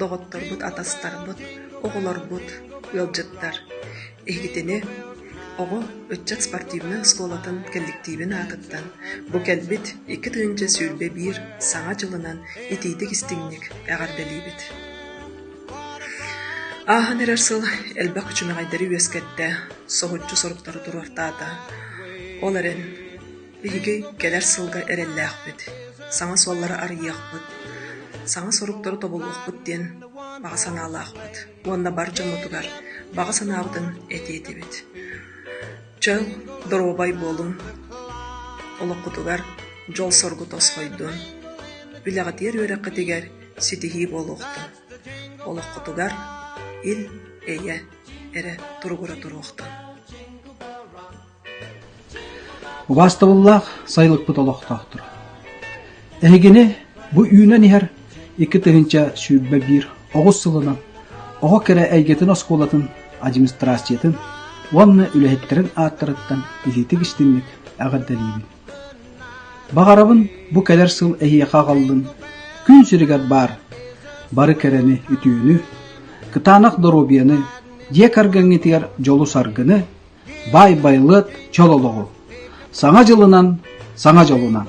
доҕотторбут, атастарбыт, оҕолорбут, ыалдьыттар. Иһигитини оҕо ыччат спортивнай оскуолатын кэлликтиибин аатыттан бу кэлбит икки тыһыынча сүүрбэ биир Саҥа дьылынан итиитик-истиҥник эҕэрдэлиибит! Ааһан эрэр сыл элбэх күчүмэҕэйдэри үөскэттэ, соһуччу соруктары туруортаата. Ол эрэн Биһиги кэлэр сылга эрэллээхпит, саҥа суоллары арыйыахпыт, саҥа соруктары тобулуохпут диэн баҕа санаалаахпыт уонна бар дьоммутугар баҕа санаабытын этии этибит. Чөл, доруобай буолун, олоххутугар дьол-соргу тосхойдун, үлэҕитигэр үөрэххитигэр ситиһии буолуохтун, олоххутугар ил, эйэ, эрэ туругура туруохтун. Убаастабыллаах сайылыкпыт олохтоохторо! Эһигини бу үүнэн иһэр икки тыһыынча сүүрбэ биир оҕус сылынан оҕо кэрэ эйгэтин оскуолатын администрациятын уонна үлэһиттэрин ааттарыттан илиитик-истиҥник эҕэрдэлиибин. Баҕарабын бу кэлэр сыл эһиэхэ аҕаллын күн сиригэр баар бары кэрэни, үтүөнү, кытаанах доруобуйаны, дьиэ кэргэҥҥитигэр дьолу-саргыны, Баай Байлыат чөл олоҕу, Саҥа дьылынан саҥа дьолунан!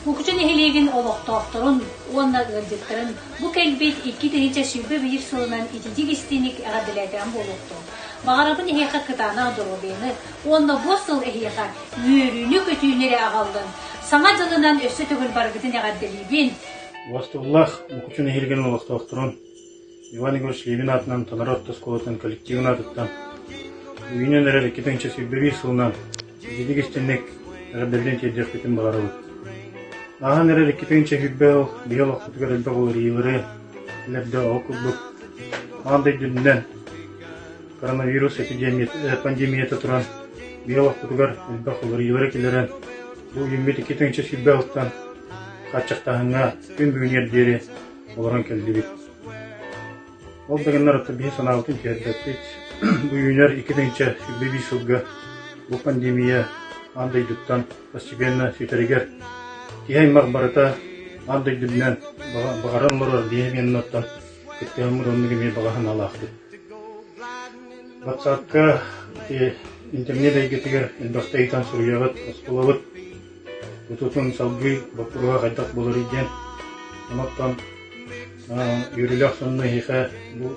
Букучу нэһилиэгин олохтоохторун уонна ыалдьыттарын бу кэлбит икки тыһыынча сүүрбэ биир сылынан ититик истиник эҕэрдэлээтэҕим буолуохтун. Баҕарабын эһиэхэ кытаанах доруобуйаны уонна бу сыл эһиэхэ үөрүүнү-көтүүнү эрэ аҕаллын, саҥа дьылынан өссө төгүл барыгытын эҕэрдэлиибин! Уостуллах Букучу нэһилиэгин олохтоохторун Иван Егорович Левин аатынан Танара орто оскуолатынан коллективын аатыттан Үүнэн эрэр икки тыһыынча сүүрбэ биир сылынан ититик истинник эҕэрдэлээн тиэрдиэхпитин баҕарабыт. Ааһан эрэр икки тыһыынча сүүрбэ ол биһи олохпутугар элбэх уларыйыылары тилэрдэ ол курдук аан дойдунан коронавирус пандемията туран биһи олохпутугар элбэх уларыйыылары килэрэн бу үүммүт икки тыһыынча сүүрбэ алтан хааччахтааһыҥҥа күн бүгүнүгэр диэри олорон кэллибит. Ол да гыннар отто биһи санаабытын түһэрбэппит. Бу үүнэр икки тыҥча сүүрбэ биис сылга бу пандемия аан дойдуттан постепенно сүтэригэр киһи аймах барыта аан дойдубунан баҕаран олорор биһиэннаттан киттээн муранныгы эмиэ баҕа санаалаахпыт. Ватсапка интернет эйгэтигэр элбэхтэ ыйтан суруйабыт, осколабыт Бутутун салгыы боппуруоһа хайдах буларый диэн. Оноттон үөрүүлээх сонно эһиэхэ бу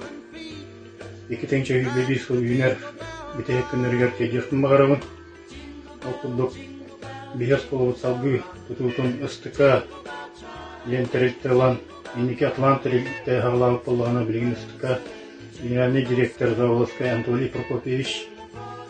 икитин чөйүүгэ биир сыл үүнэр бүтэһик күннэригэр тиэдиэхпин баҕарабын. Ол курдук биһиэс куолабыт салгыы тутуутун ыстыка диэн тэрилтэ ылан инники Атлант тэрилтэ хаалаабыт боллоҕуна билигин ыстыка генеральный директор Заволоцкай Анатолий Прокопьевич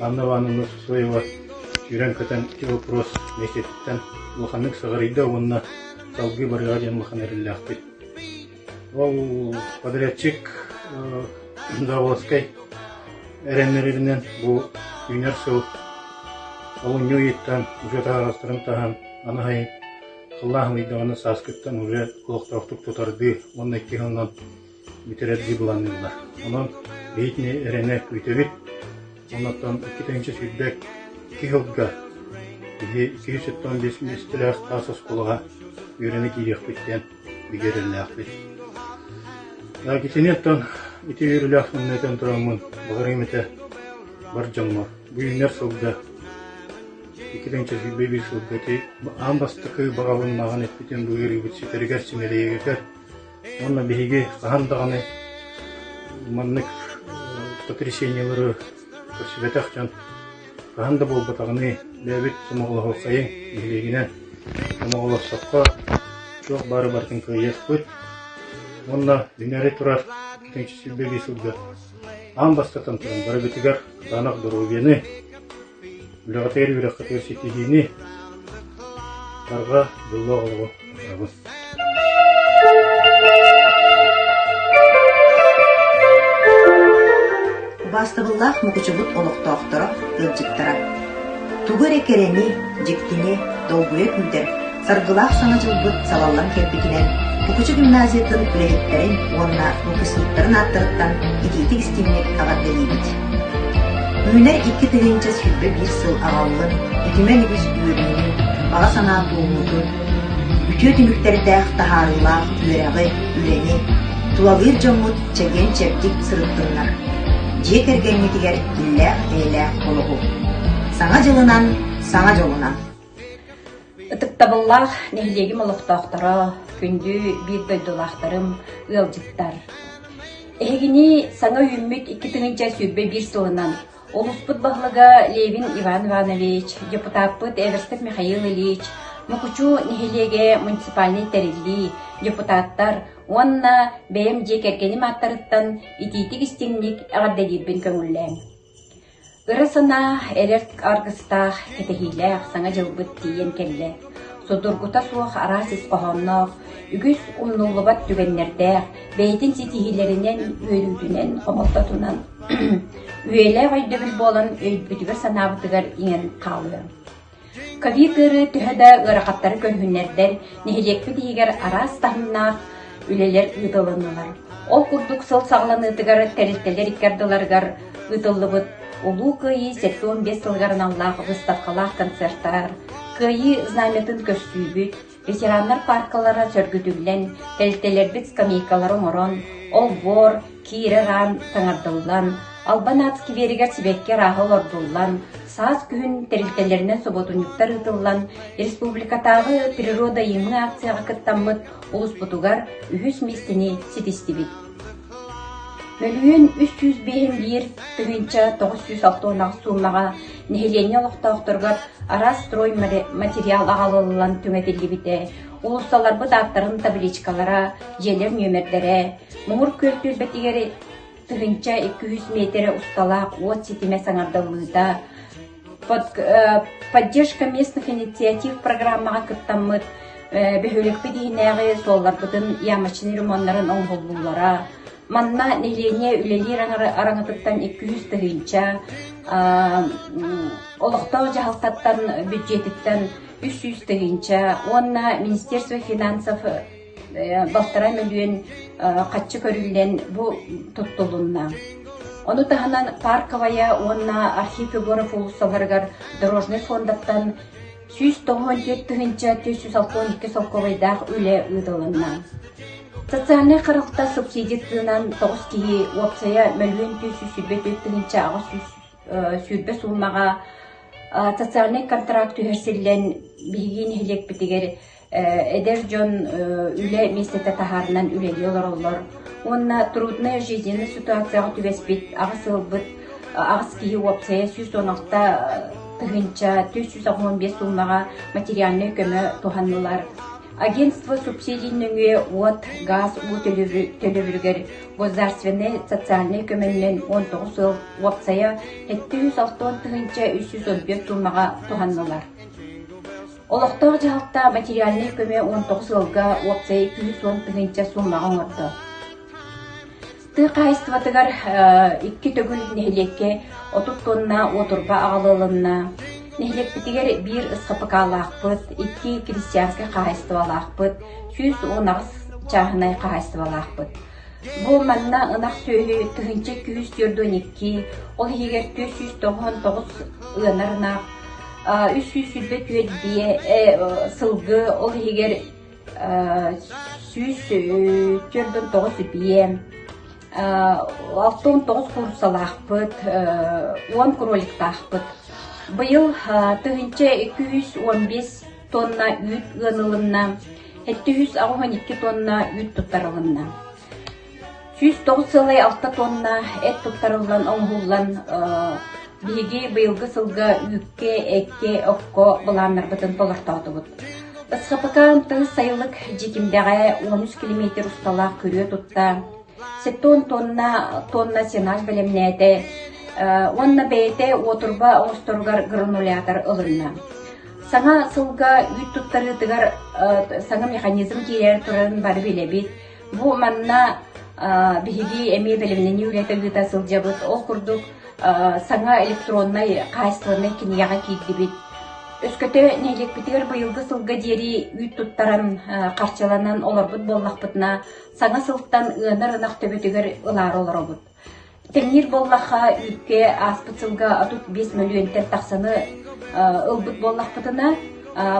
Анна Ивановна Суслаева сүүрэн-көтөн ити боппуруос миэстэтиттэн улаханнык сыҕарыйда уонна салгыы барыаҕа диэн улахан эрэллээхпит. Ол подрядчик Заволжскай эрэннэрэринэн бу үүнэр сыл олунньу ыйыттан уже таһаҕастарын таһан аны хайын халлаан ымыйдаҕына сааскыттан уже олохтоохтук тутардыы уонна икки хонон бүтэрэр дии былаанныыллар. Онон бэйэтин эрэнэ күүтэбит. Оннуттан икки тыһыынча сүүрбэ икки сылга киһи икки сүүс тоттон биэс миэстэлээх таас оскуолаҕа үөрэнэ киириэхпит диэн бигэ эрэллээхпит. Итини оттон ити үөрүүлээх самнайтан тураммын баҕарыым этэ бар дьоҥҥор. Бу үүннэр-сылга икки тыһыынча сүүрбэ биир сылга ити аан бастакы баҕалыннааҕын эппитим бу ыарыыбыт ситэригэр симэлийэгэтэр Уонна биһиги хаһан даҕаны маннык потрясениелары көрсүбэтэх дьон хаһан да буолбатаҕыныы бэйэбит сомоҕолоһуоххайыҥ нэһилиэгинэн сомоҕолоссоххо туох баары барытын кыайыахпыт уонна дьиҥэри турар китэҥчи силбэлии сылдьар аан бастатан туран барыбытыгар куттаах доруобуйаны Үлэҕитигэр үөрэххитигэр ситиһиини, утарҕа, дьоллоох олоҕу баҕарабын. Убаастабыллаах мукучубут олохтоохторо, ыалдьыттара! Тугу эрэ кэрэни, дьиктини, долгуйа күүрдэр Саргылаах саҥа дьылбыт салаллан кэлбитинэн Кукучу гимназиятын үлэһиттэрин уонна выпускниктарын ааттарыттан итиитик-истиҥник эҕэрдэлиибит! Үүнэр икки тыһыынча сүүрбэ биир сыл аҕаллын, үтүмэн үгүс үөрүүнү, баҕа санаа туоммутун, үтүө түмүктэритээх таһаарыылаах үөрэҕи, үлэни тулалыыр дьоммут чэгиэн-чэбдик сырыттыннар, дьиэ кэргэҥҥитигэр иллээх-эйэлээх олоҕу! Саҥа дьылынан, саҥа дьолунан! Ытыктабыллаах нэһилиэгим олохтоохторо, күндү биир дойдулаахтарым, ыалдьыттар! Эһигини саҥа үүммүт икки тыһыынча сүүрбэ биир сылынан улууспут баһылыга Левин Иван Иванович, депутаппыт Эверстов Михаил Ильич, Нукучу нэһилиэгэ муниципальнай тэриллии, депутаттар уонна бэйэм дьиэ кэргэним ааттарыттан итиитик-истиҥник эҕэрдэлиирбин көҥүллээҥ! Ыра санаа эдэр аргыстаах, кэтэһиилээх Саҥа дьылбыт тиийэн кэллэ, судургута суох араас ис хоһоонноох, үгүс умнуллубат түгэннэрдээх, бэйэтин ситиһиилэринэн, үөрүүтүнэн, хомолтотунан үйэлээх өйдөбүл буолан өйбүтүгэр-санаабытыгар иҥэн хаалыа Кэлии тыырыы төһө да ыарахаттары көрүһүннэрдэр, нэһилиэкпит иһигэр араас таһымнаах үлэлэр ыытылыннылар. Ол курдук сыл саҕаланыытыгар тэрилтэлэр икки ардыларыгар ыытыллыбыт Улуу Кыайыы сэттэ уон биэс сылыгар аналлаах выставкалаах концертар, Кыайыы знамятын көрсүүбүт, Ветераннар пааркалара сөргүтүллэн, тэрилтэлэрбит скамейкалара оҥорон, олбуор, киирэр аан таҥардыллан, Албан аат скверигэр сибэкки арааһа олордуллан, саас күһүн тэрилтэлэринэн соботунньуктар ыытыллан, республикатааҕы природоимы акцияҕа кыттаммыт улууспутугар үһүс миэстэни ситистибит. Бөлүһүөн үс сүүс биэһин биир тыһыынча тоҕус сүүс алта уонах суумаҕа нэһилиэнньэ олохтоохторугар араас стройматериал аҕалыллан түҥэтиллибитэ, уулуссаларбыт ааттарын табличкалара, дьиэлэр нүөмэрдэрэ, муҥур күөл түөлбэтигэр тыһыынча икки үс миэтэрэ усталаах уот ситимэ саҥардыллыыта, поддержка местных инициатив программаҕа кыттаммыт бөһүөлэкпит иһинээҕи суолларбытын ямочный ремоннарын оҥоһуллуулара манна нэһилиэнньэ үлэлиир араҥатыттан икки үс тыһыынча олохтоох дьаһалтаттан бүддьүөтүттэн үс сүүс тыһыынча уонна министерство финансов балтараа мөлүйүөн хаччы көрүллэн бу туттулунна. Ону таһынан парковая уонна архив Егоров уулуссаларыгар дорожнай фондаттан сүүс тоһуон төрт тыһыынча түс сүүс алкоон икки солкуобайдаах үлэ ыытылынна. Социальнай харалта субсидиятынан тоҕус киһи уопсайа мөлүйүөн түс сүүс сүүрбэ төрт тыһыынча аҕыс сүүс сүүрбэ суумаҕа социальный контракт түһэрсиллэн биһиги нэһилиэкпитигэр Эдэр дьон үлэ миэстэтэ таһаарынан үлэлии олороллор уонна трудная жизненная ситуацияҕа түбэспит аҕыс ыалбыт аҕыс киһи уопсайа сүүс уон алта тыһыынча түөрт сүүс алҕан биэс суумаҕа материальнай көмө туһаннылар агентство субсидий нөҥүө уот гаас уу төлөбүрүгэр государственнай социальнай көмөнүнэн он тоҕус ыал уопсайа сэттэ жүз алты тыһыынча үс жүз он биэс суумаҕа туһаннылар Олохтоох дьаһалта материальнай көмө уон тоҕус ыалга уопсайа икки уон тыһыынча суумаҕа оҥордо. Тыа хаһайыстыбатыгар икки төгүл нэһилиэккэ отут туонна уотурба аҕала ылынна. Нэһилиэкпитигэр биир СХПК-лаахпыт, икки крестьянскай хаһайыстыбалаахпыт, сүүс уон аҕыс чааһынай хаһайыстыбалаахпыт, Бу манна ынах сүөһү тыһыынча күүс түөрт уон икки, ол иһигэр түөрт сүүс тоҕус тоҕус ыанар ынах, үс сүүс сүүрбэ түөрт сылгы, ол иһигэр сүүс түөрт уон тоҕус ипиэ, алта уон тоҕус куурусалаахпыт, уон кроликтаахпыт. Быйыл тыһыынча күүс уон биэс тонна үүт ыан ылынна. Сэттэ үс оҕуһун икки туонна үүт туттарылынна. Сүүс тоҕус сыалай алта туонна эт туттарыллан оҥоһуллан биһиги быйылгы сылга үүккэ, эккэ, окко былааннарбытын толортоотубут. СХПК ымтыһы сайылык дьитимдэҕэ он үс километр усталаах күрүө тутта Сеппуон туонна туонна сенаж бэлэмнээтэ уонна бэйэтэ уотурба оҥосторугар гранулятор ылынна. Саҥа сылга үүт туттарыытыгар саҥа механизм киирэр турарын бары билэбит. Бу манна биһиги эмиэ бэлэмнэнии үлэтэ ыыта сылдьабыт. Ол курдук саҥа электроннай хаачыстыбаннай кинигэҕэ киирдибит. Өскөтө нэһилиэкпитигэр быйылгы сылга диэри үүт туттаран харчыланан олорбут буоллахпытына Саҥа сылтан ыанар ынах төбөтүгэр ылаары олоробут. Тэҥниир буоллахха, үүккэ ааспыт сылга отут биэс мөлүйүөнтэн тахсаны ылбыт буоллахпытына,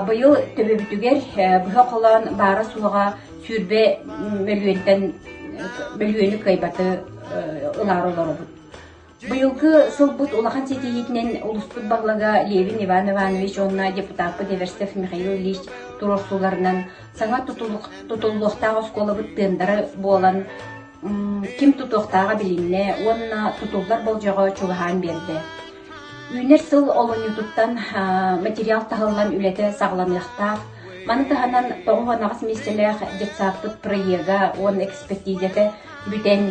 быйыл төбөбүтүгэр быһа холоон баара-суоҕа сүүрбэ мөлүйүөнтэн мөлүйүөнү кыайбаты ылаары олоробут. Быйылгы сылбыт улахан ситиһиитинэн улууспут баһылыга Левин Иван Иванович уонна депутаппыт Эверстов Михаил Ильич туруорсууларынан саҥа тутуллуохтаах оскуолабыт тыындара буолан, ким тутуохтааҕа билиннэ уонна тутуллар болдьоҕо чугаһаан биэрдэ. Үүнэр сыл олунньутуттан материал таһыллан үлэтэ саҕаланыахтаах. Маны таһынан тоҕус анаҕас миссиялээх детсадпыт проекта уон экспертизата бүтэн,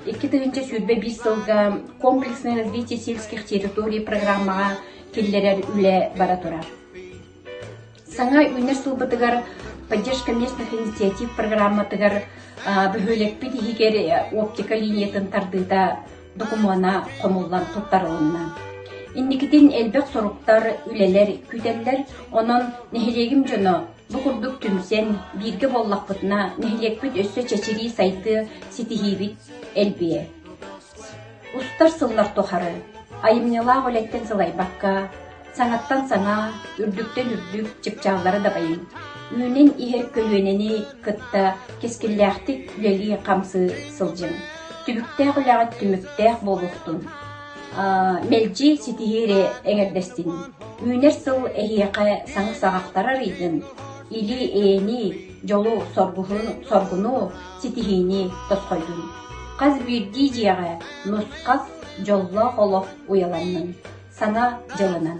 Икки тыһыынча сүүрбэ биир сылга Комплексное развитие сельских территорий программаҕа киллэрэр үлэ бара турар. Саҥа үүнэр сылбытыгар поддержка местных инициатив программатыгар бөһүөлэкпит иһигэр оптика линиятын тардыыта докумуона хомуллан туттарылынна. Инникитин элбэх соруктар, үлэлэр күүтэллэр, онон нэһилиэгим дьоно Бу курдук түмсэн, бииргэ буоллахпытына, нэһилиэкпит өссө чэчирии сайдыа, ситиһиибит элбиэ. Устар сыллар тухары айымньылаах үлэттэн сылайбакка, саҥаттан саҥа, үрдүктэн үрдүк чыпчааллары дабайыҥ. Үүнэн иһэр көлүөнэни кытта кэскиллээхтик үлэлии-хамсыы сылдьыҥ. Түбүктээх үлэҕит түмүктээх буолуохтун. Мэлдьи ситиһиини эҥэрдэстин. Үүнэр сыл эһиэхэ саҥа саҕахтар арыйдын, илии-эйэни, дьолу, соргуну, ситиһиини тосхойдун. Хас биирдии дьиэҕэ нусхат, дьоллоох олох уйаланнын, сана дьылынан.